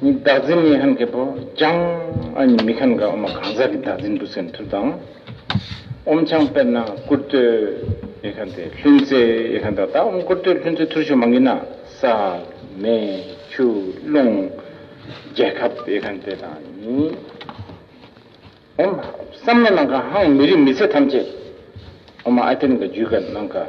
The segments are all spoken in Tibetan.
བདག་འཛིན་མི་ཧན་གྱི་བུ་ཅང་ཨ་ཉི་མི་ཁན་ག་ཨོ་མ་གང་ཟག་གི་བདག་འཛིན་འདུ་ཚེ་མཐུ་དང། ཨོམ་ཆང་དཔེར་ན་སྐུར་སྟོད་ཡེ་ཁན་ཏེ་ལྷུན་རྩེ་ཡེ་ཁན་དང་ད་ཨོམ་སྐུར་སྟོད་ལྷུན་རྩེ་ཐུར་ཤུ་མ་ངི་ན་ས། མེ། ཆུ། རླུང། རྒྱལ་ཁབ་ཡེ་ཁན་ཏེ་དང་ནི། ཨོམ། བསམ་བློ་ནང་ག་ཧང་མི་རིགས་མི་ཚེ་ཐམས་ཅད། ཨོ་མ་ཨ་ཐེན་ག་རྒྱུད་ག་ནང་ག།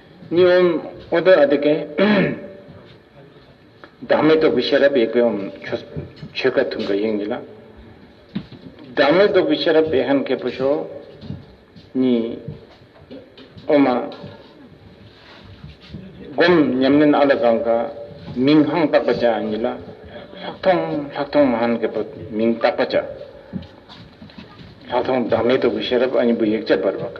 གཉིས་ཧོམ། ཨོ་ཏོ་ཨ་ཏི་ཀཱི། བདག་མེད་རྟོགས་པའི་ཤེས་རབ་ཡེ་གེ་ཧོམ། ཆོས་ཀ་ཐུན་ཀ་དབྱིངས་ཀྱི་ལམ། བདག་མེད་རྟོགས་པའི་ཤེས་རབ་བེ་ཧན་ཀེ་པོ་ཤོ། གཉིས། ཨོ་མ། བསྒོམ། ཉམས་ལེན་ཨ་ལ་གང་ག། མིང་སྔངས་བརྟག་པ་བྱ། གཉིས་ལ། ལྷག་མཐོང་ལྷག་མཐོང་མ་ཧན་ཀེ་པོ། མིང་བརྟག་པ་བྱ། ལྷག་མཐོང་བདག་མེད་རྟོགས་པའི་ཤེས་རབ་ཨ་གཉིས་པོ་ཡེག་ཅཱ་བར་བ་ཀ།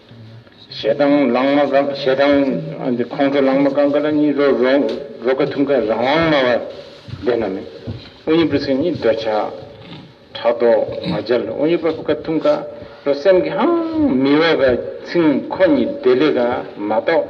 ཞེ་སྡང་ལང་མ་གང་ཞེ་སྡང་འདི་ཁོང་ཁྲོ་ལང་མ་གང་ག་ལ་གཉིས་རོ་རོ་ག་ཐུང་ག་རང་དབང་སྨྲ་བ་བདེན་ན་མེད་ཨོ་ཉི་པོ་སེམས་ཉིད་འདོད་ཆགས་ཕྲག་དོག་མ་འཇལ་ཨོ་ཉི་པོ་ག་ཐུང་ག་རོ་སེམས་ཀྱི་ཧང་མི་འོ་ག་ཚིང་ཁོ་གཉིས་བདེ་ལེགས་ག་མ་གཏོགས།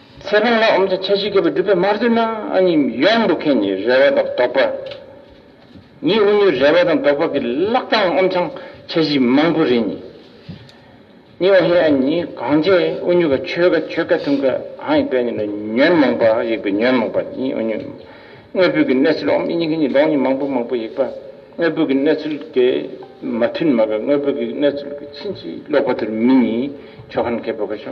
ཚེ་དཔོན་ལ་འོམ་ཚ་ཆ་བཞི་བསྐལ་པ་སྒྲུབ་པའི་མར་དུ་ན་ནི་ཡོངས་འདུ་མཁན་ནི་རལ་བ་དང་རྡོག་པ་ཉིད་དབུ་སྣོད་རལ་བ་དང་རྡོག་པ་གི་ལག་རྐང་འོམ་ཚང་ཆ་བཞི་མང་པོ་རེ་ནི་ནི་འོ་ཧེ་ཨ་ནི་གང་བྱས་དབུ་སྣོད་ཀ་ཆོས་ཀ་ཆོས་ཀ་ཐུན་ཀ་གང་ཡིག་པའི་ནི་ལ་ཉོན་མོངས་པ་ཡིག་པའི་ཉོན་མོངས་པ་ནི་འོ་སྣོད་དངོས་པོའི་གི་གནས་ཚུལ་འོམ་ཨི་ཉིག་གི་ནི་ལོང་ནི་མང་པོ་མང་པོ་ཡིག་པ་དངོས་པོའི་གི་གནས་ཚུལ་གི་མ་ཐུན་མ་ག་དངོས་པོའི་གི་གནས་ཚུལ་གི་ཕྱིན་ཅི་ལོག་པ་དུར་མི་ནི་ཆོ་ག་ནི་ཁད་པོ་ཀ་ཆོ།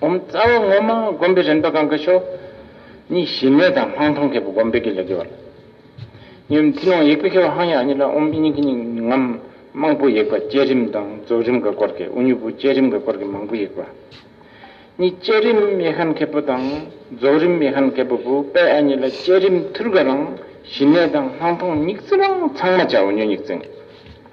བསྒོམ་རྩ་བ་ངོ་མ་བསྒོམ་པའི་རིམ་པ་གང་གི་ཕྱོགས། གཉིས་གཞི་མེད་དང་སྣང་སྟོང་མཁས་པ་བསྒོམ་པའི་གེགས་ལས་གེགས་བར། གཉིས་རྩིས་ལོངས་ཡེག་པའི་མཁས་པ་ཧང་ཡག་གཉིས་ལ་དབུ་མའི་སྙིང་གི་སྙིང་ངམ། རྨང་པོ་ཡེག་པ་བསྐྱེད་རིམ་དང་རྫོགས་རིམ་གྱི་སྐོར་གྱི་དབུ་མྱུར་པོ་བསྐྱེད་རིམ་གྱི་སྐོར་གྱི་མང་པོ་ཡེག་པ། གཉིས་བསྐྱེད་རིམ་ཡེ་ཤན་མཁས་པོ་དང་རྫོགས་རིམ་ཡེ་ཤན་མཁས་པོ་བུ་དཔེ་ཨ་གཉིས་ལ་བསྐྱེད་རིམ་ཐུར་ག་རང་གཞི་མེད་དང་སྣང་སྟོང་སྙིགས་རྩིས་རང་ཚང་མ་བྱ་བ་ཉོན་སྙིགས་རྩིས།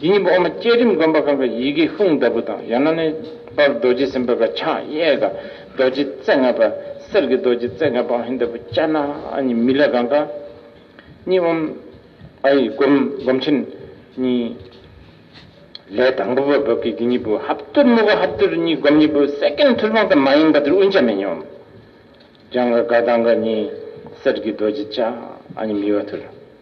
དེ་ཉིན་པོ་འོག་མ་བསྐྱེད་རིམ་དགོན་པ་གང་གི་ཡི་གེ་ཧྥུང་ལྟ་བུ་དང་ཡང་ན་ནི་པར་རྡོ་རྗེ་སེམས་དཔའ་ག་ཕྱག་གཡས་ག་རྡོ་རྗེ་རྩེ་ལྔ་པ་གསེར་གྱི་རྡོ་རྗེ་རྩེ་ལྔ་པའང་ཧིན་ལྟ་བུ་ལྕགས་ནག་གཉིས་མི་ལ་གང་ག་གཉིས་འོམ་ཨ་ཡིག་བསྒོམ་བསྒོམ་ཕྱིར་ནི། ལས་དང་པོ་པ་བབས་ཀྱི་དེ་ཉིན་པོ་ཧབ་བཏུར་དམུ་ག་ཧབ་བཏུར་གཉིས་བསྒོམ་ཉིན་པོ་སེ་ཀན་ཐུར་དཔང་དང་མ་ཡེངས་པ་དེར་དབུས་འཇམ་མེ་ཉི་འོམ་ལྗང་ག་ག་དང་ག་གཉིས་གསེར་གྱི་རྡོ་རྗེ་ལྕགས་ཨ་གཉིས་མི་བ་ཐུར།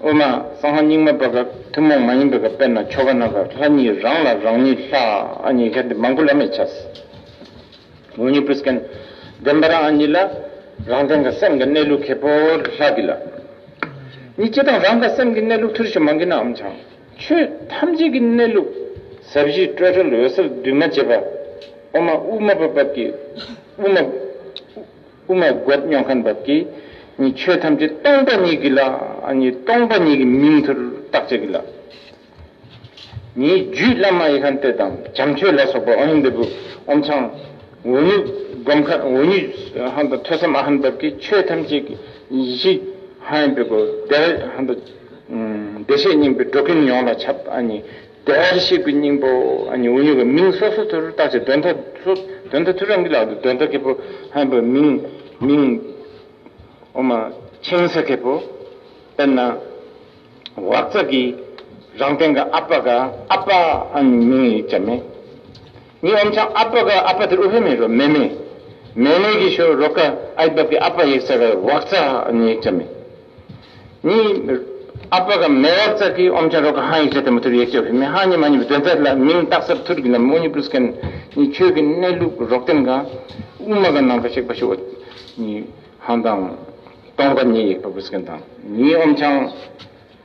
དབུ་མ་གསང་བ་རྙིང་མ་པ་སྐབས་ཐུན་མོང་མ་ཡིན་པའི་སྐབས་དཔེར་ན་ཆོ་ག་རྣམ་པར་ལྷ་གཉིས་རང་ལ་རང་ཉིད་ལྷ་ཨ་ཉིད་ལྷའི་འདི་མང་པོ་ལ་མི་བྱ། ངོ་ཉིད་པུསྐན་བདེན་པ་རང་ཨ་ཉིད་ལ་རང་བདེན་ག་སེམས་ཀྱི་གནས་ལུགས་ཁེ་པོར་ལྷ་གི་ལ་ཉིད་སྤྱི་དང་རང་ག་སེམས་ཀྱི་གནས་ལུགས་ཐུར་ཞིག་མ་འགི་ནའམ་བྱང་ཆོས་ཐམས་ཅད་ཀྱི་གནས་ལུགས་ཟབ་བཞི་སྤྲོས་བྲལ་འོད་གསལ་འདུས་མ་བྱས་པ་དབུ་མ་དབུ་མ་པ་སྐབས་ཀྱི་དབུ་མ། དབུ་མའི་སྒོ་སྙོགས་མཁན་བབས་ཀྱིས་ནི་ཆོས་ཐམས་ཅད་སྟོང་པ་ཉིད་ཀྱི་ལ་ནི་སྟོང་པ་ཉིད་ཀྱི་མིང་ཐུར་བཏགས་བྱས་ཀྱི་ལ་ནི་རྒྱུད་བླ་མ་ཡེ་ཤེས་སྟོད་དང་བྱམས་ཆོས་ལ་སོགས་པ་ཨོ་ཡིག་འདི་བུ་ཨོམ་ཆང་འོ་ཉུག་སྒོམ་མཁན་འོ་ཉུག་ཧན་དང་ཐོས་བསམ་ཨ་ཧན་བབས་ཀྱིས་ཆོས་ཐམས་ཅད་ཀྱི་གཞི་ཧན་བུ་བདེ་བ་ཧན་དང་བདེ་གཤེགས་སྙིང་པོའི་སྒྲོག་གིན་ཡོངས་ལ་ཁྱབ་ཨ་ནི། བདེ་བར་གཤེགས་པའི་སྙིང་པོ་ཨཱ་ནི་འུ་ཉོ་གི་མིང་སོ་སོ་ཚུར་བཏགས་ཅིག་གདོན་ཐ་སོ་གདོན་ཐ་ཐུ་རང་གི་ལག་ཏུ་གདོན་ཐ་ཁེ་པོ་ཧན་པོའི་མིང་མིང་འོ་མ་ཆིང་ས་ཁེ་པོ་དཔེར་ན་བག་ཙག་གིས་རང་སྟེང་གི་ཨ་པ་ག། ཨ་པ་ཨཱ་ནི་མིང་ཡིག་ཆ་མེད། ངའི་ཨོམ་ཆང་ཨ་ཕ་ག་ཨ་ཕ་དེ་ཨུ་བྷེ་མེ་རོ་མེ་མེ། མེ་མེ་གི་ཤོ་རོ་ཀ་ཨའི་བབ་ཀྱི་ཨ་ཕ་ཡིག་ཚ་ག་བག་ཚ་ནི་ཡིག་ཚ་མེ། ནི། ཨ་ཕ་ག་མེ་བག་ཚ་གི་ཨོམ་ཆང་རོ་ཀ་ཧང་ཡིག་ཚ་དེ་མོ་ཐུར་ཡེག་ཅོ་བྷེ་མེ་ཧང་ནི་མ་ནི་བི་དོན་ཚ་ལ་མིང་བཏགས་སར་ཐུར་གི་ནམ་ཨུ་ནི་པུ་ལུས་ཀ་ནི་ཁྱོད་ཀྱི་གནས་ལུགས་རོགས་དན་ག་ཨུ་མ་ག་ནང་ག་གཤེགས་པ་ཤོ་ནི་ཧང་དང། སྟོང་ག་ནི་ཡེག་པ་བུ་སི་ཀན་དང་ནི་ཨོམ་ཆང།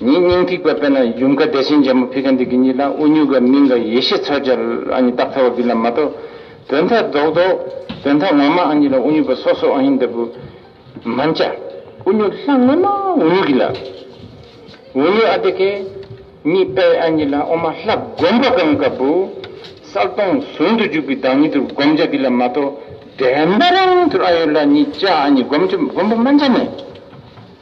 ཉིད་སྙིང་ཐིག་པ་དཔེར་ན་ཡུམ་མཁའ་བདེ་ཆེན་རྒྱལ་མོ་ཕི་ཀ་འདི་ཀི་ཉིད་ལ་ཨུ་ཉུག་ག་མིང་ག་ཡེ་ཤེས་ཚོལ་བྱ་ཨ་ཉི་རྟགས་ཚ་བ་བི་ལ་མ་ཏོ། དོན་མཐའ་རྫོགས་རྡོ། དོན་མཐའ་ངོ་མ་ཨ་ཉི་ལ་ཨུ་ཉུག་པ་སོ་སོ་ཨ་ཉི་འདི་བུ། མན་ཅ། ཨུ་ཉུག་ལྷ་དངོས་མ་ཨུ་ཉུག་གི་ལ། ཨུ་ཉུག་ཨ་དེ་ཀེ། གཉིས་པས་ཨ་ཉི་ལ་ཨོ་མ་ལྷ་བསྒོམ་པ་གང་ག་བུ། གསལ་སྟོང་ཟུང་དུ་འཇུག་པའི་བདག་ཉིད་དུ་བསྒོམ་བྱ་བི་ལ་མ་ཏོ། འདྲེན་པ་རང་དུ་ཨ་ཡོ་ལ་ཉིད་བྱ་ཨ་ཉི་བསྒོམ་བྱ་བསྒོམ་པ་མན་ཅ་ནས།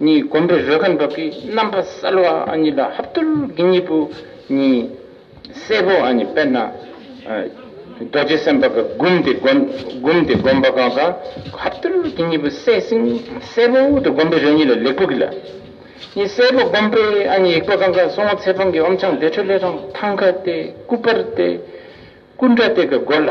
གཉིས་བསྒོམས་པའི་རོལ་ཁ་མདོག་གི་རྣམ་པ་གསལ་བ་གཉིས་ལ་ཧབ་ཏུར་གྱི་གཉིས་པོ་གཉིས། སེར་པོ་གཉིས་དཔེར་ན། རྡོ་རྗེ་སེམས་དཔའ་ག་བསྒོམས་ཏེ་བསྒོམས་ཏེ་བསྒོམས་པ་གང་གང་ཧབ་ཏུར་གྱི་གཉིས་པོ་གསལ་ཞིང་སེར་པོ་དུ་བསྒོམས་པའི་རོལ་གཉིས་ལ་ལེགས་པོ་གྱིས་ལ། གཉིས་སེར་པོ་བསྒོམས་པའི་གཉིས་ཡེག་པོ་གང་གང་སོང་ངོ་ཚེ་དཔང་གི་ཨོམ་ཆང་བདེ་དྲོད་ལས་རང་ཐང་ཁ་སྟེ་སྐུ་པར་ཏེ། སྐུ་འདྲ་སྟེ་གི་སྒོ་ལ།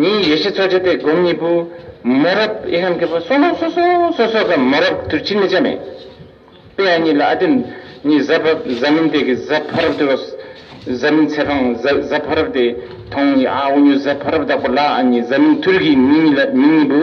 ཉིན་ཡེ་ཤེས་འཚོ་བྱེད་དེ་སྒོམ་གཉིས་པོ། མོ་རབ་ཨེ་ཧན་གྱི་བུ་སོ་ནོ་སོ་སོ་སོ་སོ་གམ་མོ་རབ་དུར་ཁྱིམ་མི་བྱ་མེད། དཔེ་ཡ་གཉིས་ལ་ཨ་དེ་ཉིད་གཟའ་ཕ་གཟའ་མིན་དེ་གི་གཟའ་ཕ་རབ་དེ་རོས་གཟའ་མིན་ཚེ་འཕང་གཟའ་གཟའ་ཕ་རབ་དེ་ཐོང་ཨ་འུ་ཉོ་གཟའ་ཕ་རབ་བདག་པོ་ལ་ཨ་ཉིད་གཟའ་མིན་དུར་གྱི་མི་གཉིས་ལ་མིང་གཉིས་པོ།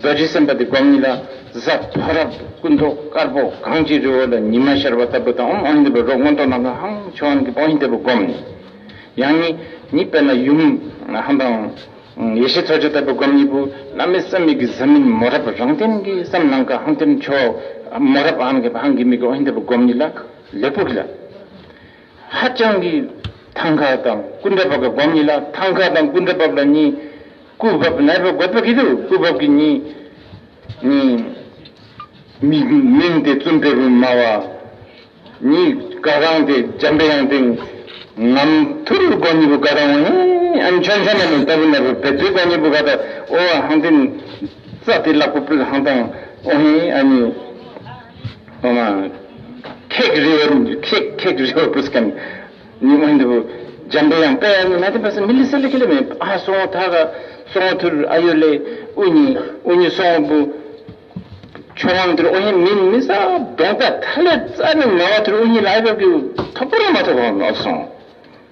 རྡོ་རྗེ་སེམས་དཔའ་དེ་སྒོ་གཉིས་ལ་གཟའ་བོ་རབ་ཏུ་སྐུ་མདོག་དཀར་པོ་གངས་ཀྱི་རི་བོ་ལ་ཉི་མ་ཤར་བ་ལྟ་བུ་དང་འམ་ཨོ་ཡིན་ལྟ་བུའི་རོ་སྔོན་ཐོག་ནང་གི་ཧང་ཆོ་ཨན་གྱི་ཨོ་ཡིན་ལྟ་བུ་བསྒོམས་ནས། ཡང་ནི་ནི་དཔེར་ན་ཡུམ་ཧན་དང། ཡེ་ཤེས་ཚོགས་མཆོད་ལྟ་བུ་བསྒོམ་གཉིས་པོ་བླ་མའི་སེམས་མིག་གི་གཟི་མིན་མོ་རབ་རང་སྟེང་གི་སེམས་ནང་གི་ཧང་སྟེར་མཆོག་མོ་རབ་ཨན་གྱི་ཧང་གི་མིག་གི་ཨོ་ཡིན་ལྟ་བུ་བསྒོམ་གཉིས་ལ་ལེགས་པོ་གྱིས་ལ། ཧ་ཅང་གི་ཐང་ཁ་དང་སྐུ་འདྲ་བབ་ལ་སྒོམ་གཉིས་ལ་ཐང་ཁ་དང་སྐུ་འདྲ་བབ་ལ་གཉིས། སྐུ་བབ་ནལ་བབ་དགོད་པ་གི་དུ་སྐུ་བབ་གི་གཉིས། གཉིས། མིག་མིང་སྟེ་བཙུན་དཔལ་བུ་མ་བ། གཉིས་དགའ་གང་སྟེ་འཇམ་དཔལ་དབྱངས་སྟེ། ངམ་ཐུར་སྒོ་གཉིས་པོ་དགའ་གང་བ་ཧེ། ཨན་ཆོན་ཆོན་མ་ནུ་ཏཱ་བུ་ནལ་བུ་བེ་ཙུའི་སྒོ་གཉིས་པོ་དགའ་ཏཱ་ཨོ་ཧང་ཏིན། རྩ་ཏི་ལག་པོ་པིར་ཧང་ཏང་ཨོ་ཧེ་ཨ་གཉིས། ཐེག་རེ་བ་ནི་ཐེག་ཐེག་རེ་བ་པུས་ཀན་ནི་དབོན་དུ་འཇམ་པའི་དབྱངས་དཔལ་ནི་མ་དེ་པ་སི་མི་ལི་སི་ལི་ཁི་ལི་མེ་ཨ་སོ་ངོ་ཐ་ག་སོ་ངོ་ཐུར་ཨ་ཡོ་ལེ་ཨུ་ཉི་ཨུ་ཉི་སོ་ངོ་པུ་ཆོ་ངང་ཐུར་ཨོ་ཧེ་མིན་མི་སྭ་གདོང་རྩ་ཐ་ལེ་རྩ་ནི་ན་བ་ཐུར་ཨུ་ཉི་ལ་ཨ་ཡོ་ཀི་ཐོ་པོ་ར་མ་ཐོ་གོ་ཨོ་སོ་ངོ།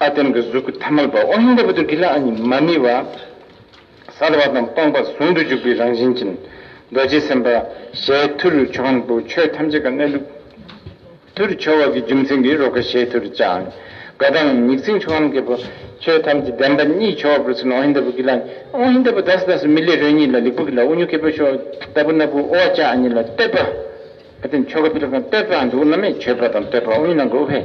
ཨ་བརྟེན་གྱི་གཟུགས་ཀྱི་ཐ་མལ་པ་ཨོ་ཧིན་དཱ་བུ་ཏུ་ཀི་ལ་ཨ་ཉིད་མ་ནི་བ། གསལ་བ་དང་སྟོང་པ་ཟུང་དུ་འཇུག་པའི་རང་བཞིན་ཅན། རྡོ་རྗེ་སེམས་དཔའ་ཞལ་མཐུ་རུ་ཆོ་གའང་བུ་ཆོས་ཐམས་ཅད་ཀྱི་གནས་ལུགས། མཐུ་རུ་ཆོ་བ་གི་རྒྱུ་མཚན་གྱིས་རོ་ག་ཞལ་མཐུ་རུ་བྱའང། དགའ་དང་མྱིག་བརྩེགས་ཆོ་གའང་གི་བུ་ཆོས་ཐམས་ཅད་བདེན་པ་གཉིས་ཆོ་བ་པུ་རུ་སུ་ན་ཨོ་ཧིན་དཱ་བུ་ཀི་ལ་ཨཉི། ཨོ་ཧིན་དཱ་བུ་དཱ་སི་དཱ་སི་མི་ལས་རོལ་གཉིས་ལ་ལིག་བུ་ཀི་ལ་ཨུ་ཉུ་ཀི་བུ་ཤོ་ད་བུ་ན་བུ་ཨོ་བ་ཅཱ་ཨ་ཉི་ལ་བསྟོད་པ། ཨ་བརྟེན་ཆོ་ག་བུ་ལ་ཁང་བསྟོད་པའང་འདུག་ན་མེད་མཆོད་པ་དང་བསྟོད་པ་ཨུ་ཡུན་ནང་གི་ཨུ་བྷེ།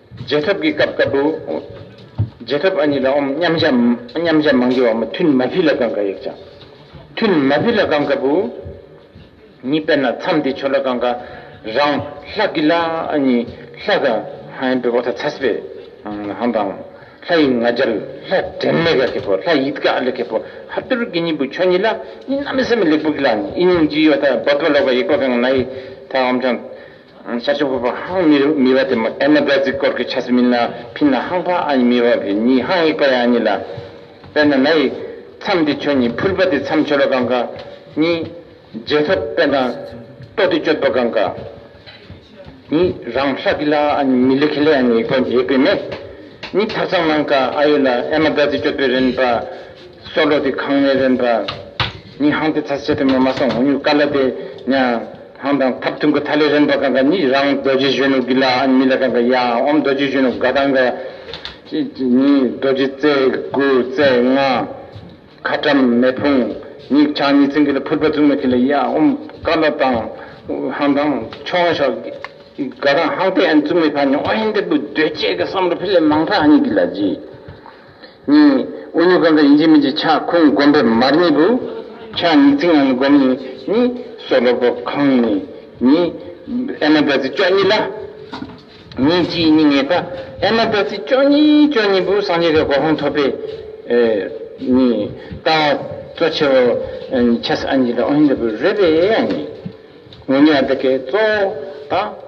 རྗེས་ཐོབ་ཀྱི་སྐབས་དཀར་པོ། རྗེས་ཐོབ་ཨ་ཉི་ལ་ཨོམ་མཉམ་བཞག། མཉམ་བཞག་མང་རྒྱུ་བ་མོ་ཐུན་མ་བྷི་ལ་ཀང་ག་ཡིག་བྱང། ཐུན་མ་བྷི་ལ་ཀང་ག་པུ། ཉི་དཔལ་ན་མཚམས་འདི་ཆོ་ལ་ཀང་ག། རང། ལྷ་ཀི་ལ་ཨ་ཉི། ལྷ་ཀ། ཧན་པི་བ་ཐ་ཚ་སི་པེ། ཧན་དང། ལྷ་ཡི་ང་རྒྱལ། ལྷ་བྲན་ལེ་ག་ཁེ་པོ་ལྷ་ཡིད་ཀ་ཨ་ལེ་ཁེ་པོ་ཧ་པི་རུ་ཀི་ཉི་པུ་ཆོ་ཉི་ལ་ཨ་ཉི་ན་མི་སེ་མི་ལེགས་པུ་ཀི་ལ་ཨ་ཉི་ཨི་ཉིང་ཅི་ཡོ་ཐ་བོ་ཏོ་ལོ་ཀ་ཡིག་པ་ཀང་ག་ན་ཡི་ཐ་ཨོམ་བྱང། ཆ་ཆུང་ཕོ་བར་ཧང་མི་རུ་མི་བ་དེ་མོ་ཨེ་ན་བེར་ཙིག་སྐོར་གི་ཆ་སི་མིན་ན་ཕིན་ན་ཧང་ཕ་ཨ་ཉི་མི་བ་གི་ཉི་ཧང་ཡིག་པ་ཡ་ཨ་ཉི་ལ། པེར་ན་ན་ཡིག། མཚམས་དེ་ཁྱོད་ཉི་ཕུར་པ་དེ་མཚམས་ཆོལ་བ་གང་ག། ཉི། རྗེས་ཐོབ་དཔེ་གང། ཏོ་དེ་གཅོད་པ་གང་ག། ཉི། རང་ཧྲ་གི་ལ་ཨ་ཉི་མི་ལི་ཁེ་ལེ་ཨ་ཉི་ཡིག་པ་ཡེག་པེ་མེ། ཉི་ཐག་ཚང་ནང་ག་ཨ་ཡོད་ལ་ཨེ་མ་བེར་ཙིག་གཅོད་པེ་རེན་པ། སོ་ལོ་དེ་གང་ནེ་རེན་པ། ཉིད་ཧང་དེ་ཚ་ཆེ་དེ་མོ་མ་སོང་ངོ་ཉུག་ཀ་ལ་དེ་ཉང་ཧང་དང་ཐབ་ཐུང་གི་ཐ་ལེ་རན་པ་གང་ག་ཉིད་རང་རྡོ་རྗེ་གཞོན་ནུ་གི་ལ་ཨན་མི་ལ་གང་ག་ཡ་ཨོམ་རྡོ་རྗེ་གཞོན་ནུ་ག་དང་ག་ཉིད་རྡོ་རྗེ་རྩེ་དགུ་རྩེ་ལྔ་ཁ་བཀྲམ་མེ་ཕུང་ཉིད་ཆང་ཉིད་ཚིང་གི་ལ་ཕུར་པ་བཙུགས་མ་གི་ལ་ཡ་ཨོམ་ཀ་ལ་དང་ཧང་དང་ཆོ་ང་ཤོག་ག་དང་ཧང་དེ་ཨན་བཙུགས་མེ་ཕ་ཉོ་ཨོ་ཧན་དེ་པུ་རྡོས་བཅས་གི་བསམ་རོ་ཕི་ལེ་མང་ཕ་ཨ་ཉིད་གི་ལ་རྗེས། གཉིས། དབུ་སྙུག་གང་གི་ཡིན་གཅིག་མིན་གཅིག་ཕྱག་ཁུང་བསྒོམ་པའི་མར་གཉིས་པོ། ཕྱག་གཉིས་རྩིག་ངང་ལ་བསྒོམ་ནས་གཉིས། སྲོག་ལོག་པ་གང་ནས་གཉིས། ཨེ་མ་ད་ཙི་ཅོག་གཉིས་ལ། གཉིས་གཅིག་གཉིས་ངེས་པ། ཨེ་མ་ད་ཙི་ཅོག་གཉིས་ཅོག་གཉིས་པོ་སངས་རྒྱས་ཀྱི་གོ་འཕང་ཐོབ་པའི། གཉིས། ལྟ་བ། གཙོ་ཆེ་བ། ཆ་ས་ཨ་ཉིད་ལ་ཨོ་ཧི་འདྲ་བོས་རོལ་པའི་ཨ་ཉིད། ངོ་ཉིད་ཨ་ཏི་ཀའི་གཙོ་བོ་དང།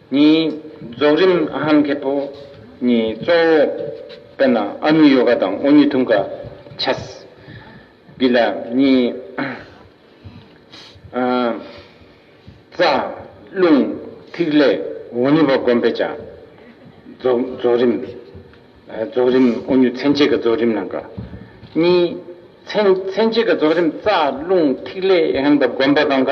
གཉིས། རྫོགས་རིམ་ཧན་མཁས་པོ་གཉིས་གཙོ་བོ། དཔེར་ན་ཨ་ནུ་ཡོ་ག་དང་དབུ་སྙུད་ཐུང་ག། ཆས། བི་ལ། གཉིས། རྩ། རླུང། ཐིག་ལེ། འོ་ནུ་བ་བསྒོམ་པའི་བྱ། རྫོགས་རིམ། རྫོགས་རིམ་དབུ་སྙུད་མཚན་བྱེད་ཀྱི་རྫོགས་རིམ་ནང་གི། གཉིས། མཚན་བྱེད་ཀྱི་རྫོགས་རིམ་རྩ། རླུང། ཐིག་ལེ། ཧན་པ་བསྒོམ་པ་གང་ག།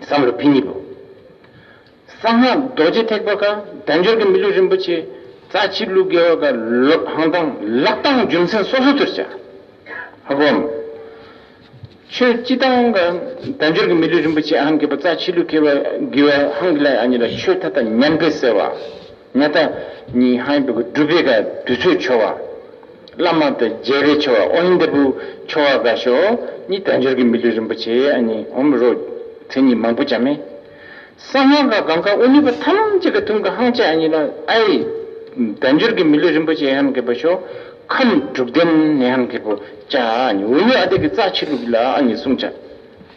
བསམ་བློ་འཕེལ་ཉིད་པོ། གསང་སྔགས་རྡོ་རྗེ་ཐེག་པ་ཀ་བདེ་འབྱོར་གྱི་མི་ལུས་རིན་པོ་ཆེ་རྩ་ཆེ་གླུ་དགེ་བ་ཀ་ལོད་ཧང་དང་ལག་གདང་རྒྱུ་མཚན་སོ་སོ་དུར་བྱ། ཧ་གོ་འམ། ཆོས་སྤྱི་དང་ཀ་བདེ་འབྱོར་གྱི་མི་ལུས་རིན་པོ་ཆེ་ཧང་དགེ་བ་རྩ་ཆེ་གླུ་དགེ་བ་དགེ་བ་ཧང་གི་ལ་ཡ་གཉིས་ལ་ཆོས་མཐའ་དག་ཉམས་པས་གསལ་བ། ཉག་ཐ་གཉིས་ཧང་ཡིན་པས་ཀ་སྒྲུབ་པས་ཀ་དུས་ཚོད་འཆོལ་བ། བླ་མ་དང་རྒྱལ་བའི་ཆོ་བ་ཨོ་ཡིག་འདི་བུ་ཆོ་བ་དགའ་ཤོག་གཉིས་དལ་འབྱོར་གྱི་མི་ལུས་རིན་པོ་ཆེ་ཨ་ནི་ཧོ་མི་རོ། མཚན་ཉིད་མང་པོ་ཅང་མེད། གསང་སྔགས་དགའ་གང་ག་ཨོ་ནུས་པ་ཐམས་ཅད་ཀྱི་དུང་གི་ཧང་ཆ་ཨ་ནི་ལོ་ཨའི། དལ་འབྱོར་གྱི་མི་ལུས་རིན་པོ་ཆེ་ཧན་གི་བུ་ཤོག་ཁམས་དྲུག་ལྡན་ནི་ཧན་གི་བུ་ཅང་ཨ་ནི་ཨོ་ནུས་ཨ་དེ་གི་རྩ་ཆེ་ལུགས་ལ་ཨ་ནི་བསྲུང་བྱ།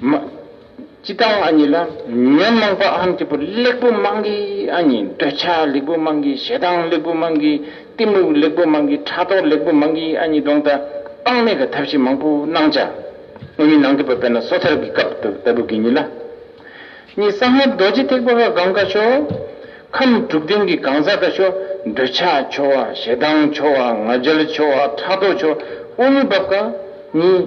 མ། སྤྱི་དང་ཨ་ཉི་ལ་ཉོན་མོངས་པ་ཨམ་སྐྱི་པོ་གླེགས་བུ་མང་གི་ཨ་ཉི་འདོད་ཆགས་གླེགས་བུ་མང་གི་ཞེ་སྡང་གླེགས་བུ་མང་གི་གཏི་མུག་གླེགས་བུ་མང་གི་ཕྲག་དོག་གླེགས་བུ་མང་གི་ཨ་ཉི་སྡོང་ད་སྤང་མེད་ཀྱི་ཐབས་ཤེས་མང་པོ་སྣང་བྱ། སྔོན་མི་སྣང་གི་བ་པས་ན་སོ་ཐར་གྱི་སྐབས་དུ་ལྟ་བུ་གི་ཉིད་ལ། གཉིས་གསང་སྔགས་རྡོ་རྗེ་ཐེག་པ་ཀ་གང་ཀ་ཤོ། ཁམས་དྲུག་ལྡན་གྱི་གང་ཟག་ཀ་ཤོ་འདོད་ཆགས་འཆོ་བ་ཞེ་སྡང་འཆོ་བ་ང་རྒྱལ་འཆོ་བ་ཕྲག་དོག་འཆོ་དབུགས་མི་འབབ་ཀ་གཉིས།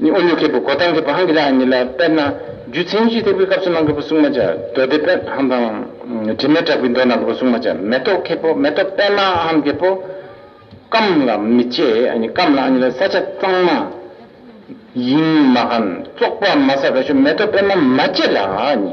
ནི་ཨོ་ལུ་ཁེ་པོ་གོ་ཐང་གི་བ་ཧང་གི་ལ་ཨན་ནི་ལ་དཔལ་ན་རྒྱུ་མཚན་གྱིས་ཐེག་པའི་སྐབས་སུ་གནང་གི་བ་སྲུང་མ་བྱ་མདོ་སྡེ་དཔལ་ཧམ་དང། དྲི་མེད་གྲགས་པའི་མདོ་གནང་གི་བ་སྲུང་མ་བྱ་མེ་ཏོག་ཁེ་པོ་མེ་ཏོག་དཔལ་ན་ཧམ་ཁེ་པོ། སྐམ་ལ་མི་བཅས་ཨ་ནི་སྐམ་ལ་ཨ་ནི་ལ་ས་ཆ་གཙང་མ། དབྱིངས་མ་ཧན་བཙོག་པ་མ་ས་ར་ཤོ་མེ་ཏོག་དཔལ་ན་མ་བཅས་ལ་ཨ་ནི།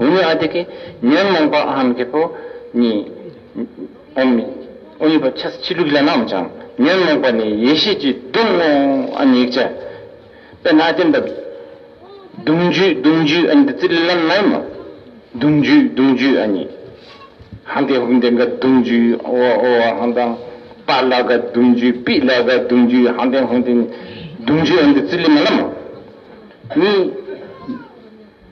ཨུ་ཡི་ཨ་དེ་ཀི། ཉོན་མོངས་པ་ཨམ་གྱི་པོ། ནི། ཨོམ། ཨུ་ཡི་པ་ཆ་སི་ཆི་ལུ་ཀི་ལ་ནའམ་ཅང། ཉོན་མོངས་པ་ནི་ཡེ་ཤེས་ཀྱི་གདུང་ངོ། ཨ་ནི་ཡིག་ཆ། པེ་ན་ཏེ་འདབ། གདུང་རྒྱུད་གདུང་རྒྱུད་ཨ་ནི་ཏི་ཙི་ལི་ལམ་ནའི་མོ། གདུང་རྒྱུད་གདུང་རྒྱུད་ཨ་ནི། ཧན་ཏེ་ཧུན་ཏེ་ག་གདུང་རྒྱུད་ཨོ་ཨོ་ཨ་ཧན་ཏང། པ་ལ་ག་གདུང་རྒྱུད་པི་ལ་ག་གདུང་རྒྱུད་ཧན་ཏེ་ཧུན་ཏེ། གདུང་རྒྱུད་ཨ་ནི་ཏི་ཙི་ལི་མ་ལ་མོ། ནི།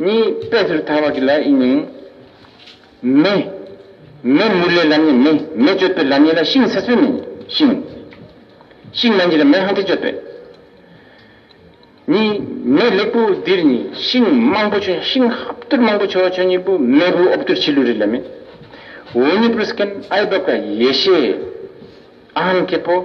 གཉིས། པས་ཟེར་ཐལ་བ་གྱི་ལའི་དབྱིངས་ནི། མེ། མེ་མུར་ལའི་ལམ་ནི་མེ། མེ་གཅོད་པའི་ལམ་ཡིན་ལ་ཤིང་ཟེར་སྲོལ་མེ། ཤིང། ཤིང་མན་ཇི་ལ་མེ་ཧང་ཏེ་གཅོད་པས། གཉིས། མེ་ལེགས་པོ་འདིར་ནི་ཤིང་མང་པོ་ཆོས་ཤིང་ཧབ་བསྟུར་མང་པོ་ཆོས་ཆོས་གཉིས་པོ་མེ་བུ་ཨོབ་བསྟུར་ཕྱི་ལུས་རི་ལ་མེ། འོ་ཉི་པུ་རུ་སྐན་ཨའི་བབ་ཀ་ཡེ་ཤེས། ཨ་ཧམ་སྐྱེས་པོ།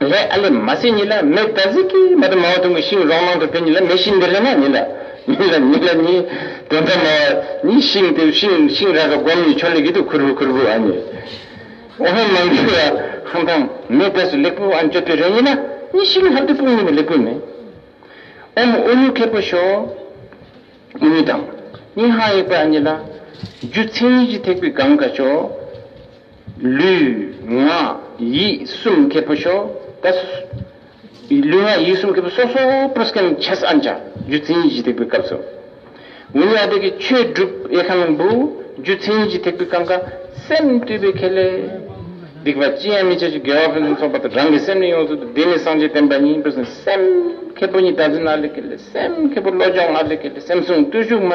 ལྷའི་ཨ་ལས་མ་སྲིན་ཉིད་ལ་མེ་བདག་གཟིགས་ཀྱིས་མ་དང་མ་བ་དུང་གི་ཤིང་རོང་མང་དུ་འཕེལ་ཉིད་ལ་མེ་ཤིང་འདི་ལྷ་ནག་ཉིད་ལ། ཉིད་ལ་ཉིད་ལ་ཉིད། དེ་མཐའ་མ་བ་ཉིད་ཤིང་དེ་ཤིང་ཤིང་ར་ར་སྒོམ་ཉིད་ཆོ་ལེ་གི་དུ་ཁུར་བུ་ཁུར་བུ་ཨ་ཉིད། འོ་ཧན་མང་གི་བ་ཧང་ཐང་མེ་བདག་སུ་ལེགས་པོ་ཨ་མཆོད་པའི་རེ་ཉིད་ལ་ཉིད་ཤིང་ཧབ་དུ་སྤུངས་ཉིད་ལ་ལེགས་པོ་མེ། ཨོམ་ཨོ་ཉུག་མཁས་པོ་ཤོ། ཨོ་ཉུག་དང་ཉིད་ཧང་ཡེག་པ་ཨ་ཉིད་ལ། རྒྱུ་མཚན་ཉིད་ཀྱི་ཐེག་པའི་གང་ག་ཤོ། ལུས། ངག། ཡིད་གསུམ་ཁེ་པོ་ཤོ་ཀ། ལུས་ངག་ཡིད་གསུམ་ཁེ་པོ་སོ་སོའོ་པུ་རུ་ཀན་ཆ་ས་ཨན་ཅཱ་རྒྱུ་མཚན་གཞི་ཐེག་པའི་སྐབས་སུ། ཝི་ཡ་ཏི་ཀའི་ཆོས་སྒྲུབ་ཨེ་ཁ་ལུང་པུའུ་རྒྱུ་མཚན་གཞི་ཐེག་པའི་ཀང་ཀ། སེམས་བཏུལ་བའི་ཁེ་ལས། སྡིག་པ་ཅི་ཡང་མི་བྱེད་ཅིག་དགེ་བ་ཕུན་སུམ་ཚོགས་པ་དང་རང་གི་སེམས་ནི་ཡོངས་སུ་དུ་བདེ་ནི་སངས་རྒྱས་བསྟན་པ་ཉིད་པུ་ཟིན་སེམས་ཁེ་པོ་ཉིད་བདག་འཛིན་ཨ་ལས་ཀེ་ལས་སེམས་ཁེ་པོ་བློ་སྦྱོང་ཨ་ལས་ཀེ་ལས་སེམས་བཟུང་བརྟུལ་ཞུགས་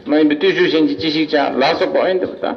མ་ཡིན་པའི་བརྟུལ་ཞུགས་གཞན་གྱིས་ཅི་ཞིག་བྱ་ལ་སོགས་པ་ཨོ་ཡན་དུ་བ་དང།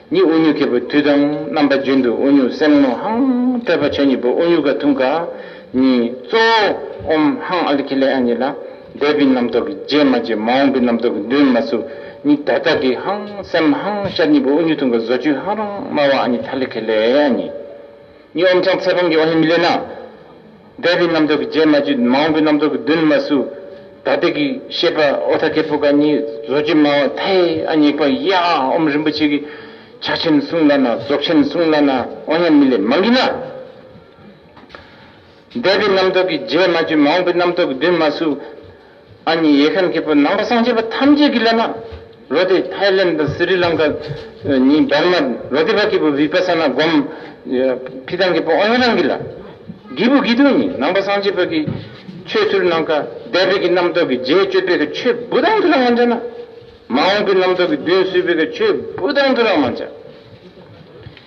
གཉིས་དབུགས་མྱུ་གེ་པོ་དུས་དང་རྣམ་པ་རྒྱུན་དུ་དབུགས་མྱུ་སེམས་ངོ་ཧང་སྤྲོས་པ་ཆོས་གཉིས་པོ་དབུགས་མྱུ་ག་ཐུང་ག། གཉིས་གཙོ་བོ་ཨོམ་ཧང་ཨ་ལི་ཁི་ལེ་ཨ་གཉིས་ལ། འདས་པའི་རྣམ་རྟོག་གི་རྗེས་མ་རྗེས་མ་འོངས་པའི་རྣམ་རྟོག་གི་འདུན་མ་སུ་གཉིས་ད་ལྟ་གི་ཧང་སེམས་ཧང་ཤར་གཉིས་པོ་དབུགས་མྱུ་ཐུང་ག་བཟོ་བཅོས་ཧང་རང་སྨྲ་བ་ཨ་གཉིས་ཐ་ལི་ཁི་ལེ་ཨ་གཉིས། གཉིས་ཨོམ་ཆང་ཚད་ཕམ་གྱི་ཨོ་ཧེ་མི་ལེ་ན། འདས་པའི་རྣམ་རྟོག་གི་རྗེས་མ་བཅུད་མ་འོངས་པའི་རྣམ་རྟོག་གི་འདུན་མ་སུ། ད་ལྟའི་གི་ཤེས་པ་ཨོ་ཐ་ཀེ་པུ་ཀ་གཉིས་བཟོ་བཅོས་མ་འོངས་ཐའི་ཨ་ཉིད་པ་ཡ་ཨོམ་རིན་པོ་ཆེ་གི་ཕྱག་ཆེན་གསུང་ལ་ན་རྫོགས་ཆེན་གསུང་ལ་ན་ཨོ་སྙམ་མི་ལས་མ་འགིགས་ན། འདས་པའི་རྣམ་རྟོག་གི་རྗེས་མ་བཅུད་མ་འོངས་པའི་རྣམ་རྟོག་གི་འདུན་མ་སུ། ཨ་མྱེས་ཡེ་ཤེས་མཁས་པོ་ནང་པ་གསང་ཆེན་པོ་ཐམས་ཅད་ཀྱི་ལས་སྣ། རོ་དེ་ཐའི་ལེན་དང་སི་རི་ལང་ཀ། ཉིད་འབར་མ། རོ་དེ་བ་མཁས་པོ་བི་པ་ས་ན་སྒོམ། བྷི་ཏང་མཁས་པོ་ཨོ་ཡན་རང་གི་ལ། སྒྱིད་པོ་སྒྱིད་དུ་ཉིད་ནང་པ་གསང་ཆེན་པོ་ཀྱི། ཆོས་ཚུལ་སྣང་ཀ་བདེ་བེ་ཀྱི་རྣམ་རྟོག་གི་རྗེས་གཅོད་བེ་ཀྱི་ཆོས་བུ་དང་དུ་རང་མ་འཇག་ན། མ་འོངས་ཀྱི་རྣམ་རྟོག་གི་བདུན་བསུས་བེ་ཀྱི་ཆོས་བུ་དང་དུ་རང་མ་འཇག།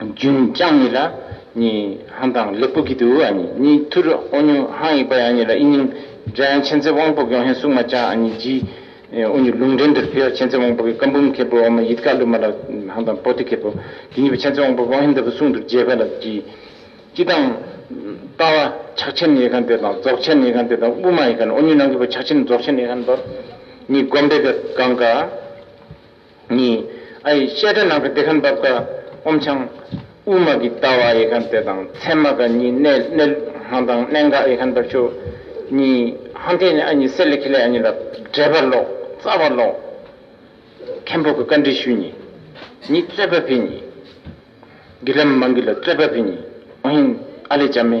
རྒྱུན་བསྐྱངས་ནི་ལ་ཉི་ཧང་དང་ལེགས་པོ་གི་དུ་ཨ་ཉི་གཉིས་ཐུ་རུ་ཨོ་ཉུ་ཧང་ཡིག་པ་ཡ་ཉི་ལ་ཨི་ཉིང་འདྲེན་ཆེན་ཚེ་དབང་པོ་གྱོང་ཧེ་སུག་མ་ཅང་ཨ་ཉི་རྗི་ཨོ་ཉུ་ལུང་འདྲེན་དུར་ཕེའོ་ཆེན་ཚེ་དབང་པོ་གི་ཀམ་བུམ་ཁེ་པོ་ཨོ་མ་ཡིད་དགའ་ཀླུ་མ་ལ་ཧང་དང་པོ་ཏི་ཁེ་པོ་གི་གཉིས་པ་ཆེན་ཚེ་དབང་པོ་ཀྱོང་ཧེ་འདི་པོ་སུང་དུར་རྒྱས་པ་ལ་རྗི་སྐྱིད་དང། ཏཱ་བ་ཕྱག་ཆེན་ཡེ་ཁང་དེ་དང་རྫོགས་ཆེན་ཡེ་ཁང་དེ་དང་དབུ་མ་ཡེ་ཁང་ཨོ་ཉུ་ནང་གི་པོ་ཕྱག་ཆེན་རྫོགས་ཆེན་ཡེ་ཁང་པ་གཉིས་བསྒོམ་བཟླས་པའི་གང་ག། གཉིས། ཨ་ཡིག་བཤད་གྲྭ་ནང་གི་བདེ་ཁམས་འབབ་ཀ། ཨོམ་ཆང། དབུ་མ་གི་ལྟ་བ་ཡེ་ཁམས་དཔེ་དང་ཚད་མ་ཀ་གཉིས་གནས་གནས་ལུགས་དང་གནད་འགག་ཡེ་ཁམས་འབབ་ཆོས། གཉིས། ཧང་ཐེ་ནི་ཨ་ཉི་སེ་ལེ་ཁེ་ལེ་ཨ་ཉི་ལ་འབྲེལ་པར་ཀློག་རྩ་བར་ཀློག། མཁན་པོ་གི་བཀའ་འདྲི་ཞུས་ཉིད། ཉིད་རྩོད་པ་བྷི་ཉིད། གི་ལམ་མང་གི་ལ་རྩོད་པ་བྷི་ཉིད། ཨོ་ཧིན། ཨ་ལེ་ཇཱ་མེ།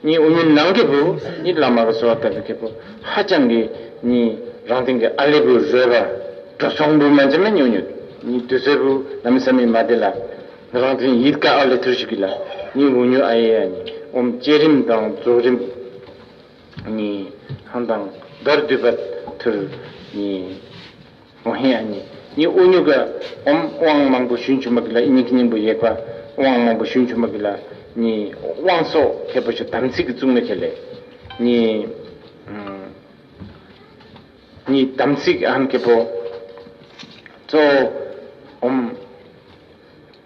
གཉིས་དབུ་མའི་ནང་གི་བུ་གཉིས་བླ་མ་གི་བཟོ་བ་ལྟ་བུ་གི་བུ་ཧ་ཅང་གི་གཉིས་རང་སྟེང་གི་ཨ་ལེ་བུ་རོལ་བར་འགྲོ་ཚོང་བུ་མན་ཆད་མ་ཉོ་ཉོ་གཉིས་དུས་ཚོད་བུ་ལ་མི་ས་མི་མ་དེ་ལ་རང་སྟེང་ཡིད་དཀའ་ཨ་ལེ་ཐུར་ཞིག་གི་ལ་གཉིས་བུ་ཉོ་ཨ་ཡེ་ཡ་གཉིས་ཨོམ་བསྐྱེད་རིམ་དང་རྫོགས་རིམ་གཉིས་ཧང་དང་བརྡར་བསྡུས་པ་ཐུར་གཉིས། ཨོ་ཧེ་ཨ་ནི་ནི་ཨོ་ཉུག་གི། འོམ་དབང་མང་པོ་ཞུན་ཆུ་མ་གི་ལ་ཨི་ནི་གི་སྙིང་པོ་ཡེག་པ། དབང་མང་པོ་ཞུན་ཆུ་མ་གི་ལ། ནི། དབང་སོགས་མཁས་པོ་ཆུ་དམ་ཚིག་གི་གཙུག་ན་ཁྱེར་ལས། ནི། ནི་དམ་ཚིག་ཨ་ཧམ་མཁས་པོ། གཙོ་བོ། འོམ།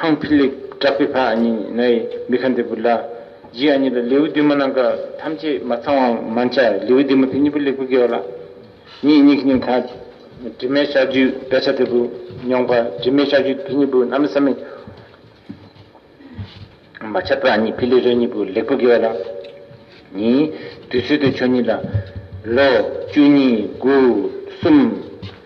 ཧང་ཕི་ལིག་བྲག་པའི་ཕ་ཨ་ཉི་ན་ཡི་མི་ཁ་འདི་བུ་ལ། རྗེས་ཨ་ཉི་ལ་ལེའུ་བདུན་མ་གནང་སྐབས་ཐམས་ཅད་མ་ཚང་བ་མ་འཆར་ལེའུ་བདུན་མ་དེ་གཉིས་པོ་ལེགས་པོ་དགེ་བ་ལ། ཉིད་སྙིང་ཁྱི་ཉུང་ཁ། དྲི་མེད་ལྕགས་ཀྱུས་དཔེ་ཆ་དེ་བུ་ཉུང་ཁ་དྲི་མེད་ལྕགས་ཀྱུས་དེ་གཉིས་པོ་གནང་མི་ས་མི་མ་འཆར་ཕ་ཨ་ཉི་ཕི་ལིག་རེ་གཉིས་པོ་ལེགས་པོ་དགེ་བ་ལ། ཉིད། དུས་ཚོད་དེ་ཆོ་གཉིས་ལ། ལོ། བཅུ་གཉིས། དགུ། གསུམ།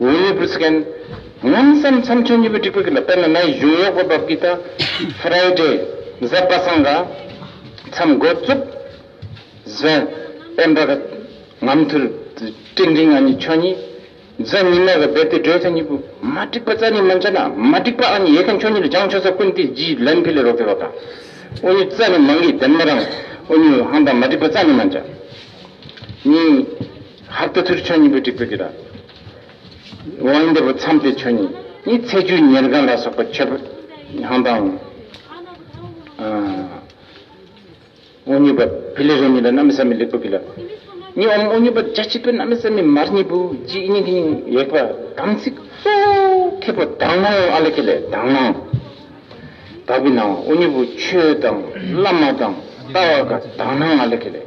ངོས་ལེ་བུར་སི་ཀན། ངམ་བསམ་མཚམས་ཆོས་གཉིས་པོའི་སྒྲིག་པའི་ཁུལ་ལ་དཔེར་ན་ནའི་གཞུང་གཡོག་པོ་འབབ་གི་ད། Friday། གཟའ་པ་སངས་ག། མཚམས་མགོ་བཙུགས། གཟའ། དཔལ་འབར་ག། ངམ་ཐུར། སྤྲིན་འབྲིང་ཨ་ནི་ཆོས་གཉིས། གཟའ་ཉི་མ་ག་བེར་ཏེ་སྒྲོལ་ཚ་གཉིས་པོ། མ་འགྲིག་པ་རྩ་ནི་མང་ཆ་ན། མ་འགྲིག་པ་ཨ་ནི་ཡེ་ཁན་ཆོས་གཉིས་ལ་སྦྱང་ཆོས་ས་ཀུན་ཏི་ཇིའི་ལན་ཕི་ལེ་རོ་ཀེ་བ་ག། ཨོ་ནུ་རྩ་ནི་མང་གི་དེམ་ན་རང། ཨོ་ནུ་ཧང་དང་མ་འགྲིག་པ་རྩ་ནི་མང་ཆ། གཉིས། ཧར་ཏོ་ཐུར་ཆོས་ཉིད་པོ་འགྲིག་པོ་འདི་ར། དབང་འདི་པོ་མཚམས་ཏེ་ཆོས་ཉིད་ནི་ཚེ་བཅུད་ཉེར་དགའ་ལ་སོགས་པ་མཆོད་པ་གང་དང། དབང་ཉིད་པ་བི་ལི་ར་ཉིད་ལ་རྣམ་བསམ་མི་ལེགས་པོ་གི་ལ། ནི་འོང་དབང་ཉིད་པ་རྒྱ་ཆེ་པོ་རྣམ་བསམ་མི་མར་ཉིད་པོ་ཅི་ཨི་ཉིད་ཀྱི་ཉིད་ཡེག་པ་དམ་ཚིག་གཙོ། ཁེ་པོ་དག་སྣང་ཨ་ལ་ཁེ་ལས་དག་སྣང། དག་པའི་སྣང་དབང་ཉིད་པོ་ཆོས་དང་བླ་མ་དང་ལྟ་བ་དགའ་དག་སྣང་ཨ་ལ་ཁེ་ལས་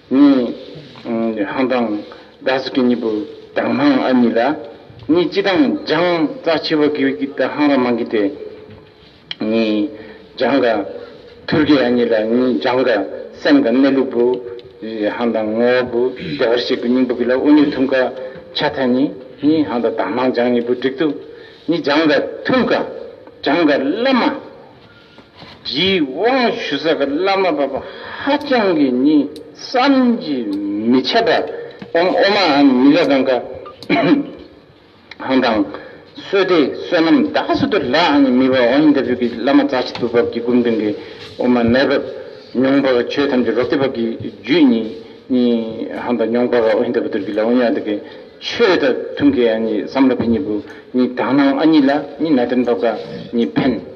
གཉིས། ཧང་ཀྲང། རྡ་སི་ཀི་གཉིས་པོ་དང་ཧང་ཨ་གཉིས་ལ། གཉིས་སྤྱི་དང་རྒྱང་རྩ་ཆེ་བ་གིའུ་ཀི་དང་ཧང་ར་མང་གི་སྟེ། གཉིས། རྒྱང་ག། ཐུར་ཀི་ཨ་གཉིས་ལ་གཉིས་རྒྱང་ག། སེམས་ག་གནས་ལུགས་བུ། ཧང་དང་ངོ་བོ་བུ། བདེ་བར་གཤེགས་པའི་སྙིང་པོ་གི་ལ་ཨུ་ནུས་ཐུམ་ག། ཆ་ཐ་གཉིས། གཉིས་ཧང་དང་དང་ཧང་རྒྱང་གཉིས་པོ་བསྒྲིག་ཏུ། གཉིས་རྒྱང་ག། ཐུམ་ག། རྒྱང་ག་བླ་མ། རི་དབང་ཞུ་ས་བླ་མ་པ་པོ་ཧ་ཅང་གི་ནི་བསམ་གྱིས་མི་ཁྱབ་པ་འམ་ཨོ་མ་འམ་མི་ལ་གང་ག་ཧང་དང། བསོད་བདེ་བསོད་ནམས་བདག་སུ་དུ་ལ་འམ་མི་བ་འོ་ཡིན་ད་བུ་གི་བླ་མ་རྩ་ཆེ་དུ་བབས་ཀྱི་སྒོམ་དོན་གི་ཨོ་མ་མེད་བབས་མྱོང་བ་ག་ཆོས་ཐམས་ཅད་རོ་བདེ་བབས་ཀྱི་རྒྱུད་ནི་ནི་ཧང་དང་མྱོང་བ་ག་ཨོ་ཡིན་ད་བུ་དུར་གི་ལ་འོ་ཡ་ད་གི་ཆོས་ད་ཐུང་གི་ཨ་ནི་བསམ་ལ་བི་ཉི་བུ་ནི་དག་སྣང་ཨ་ཉི་ལ་ནི་ན་དོན་བབས་ག་ནི་ཕན།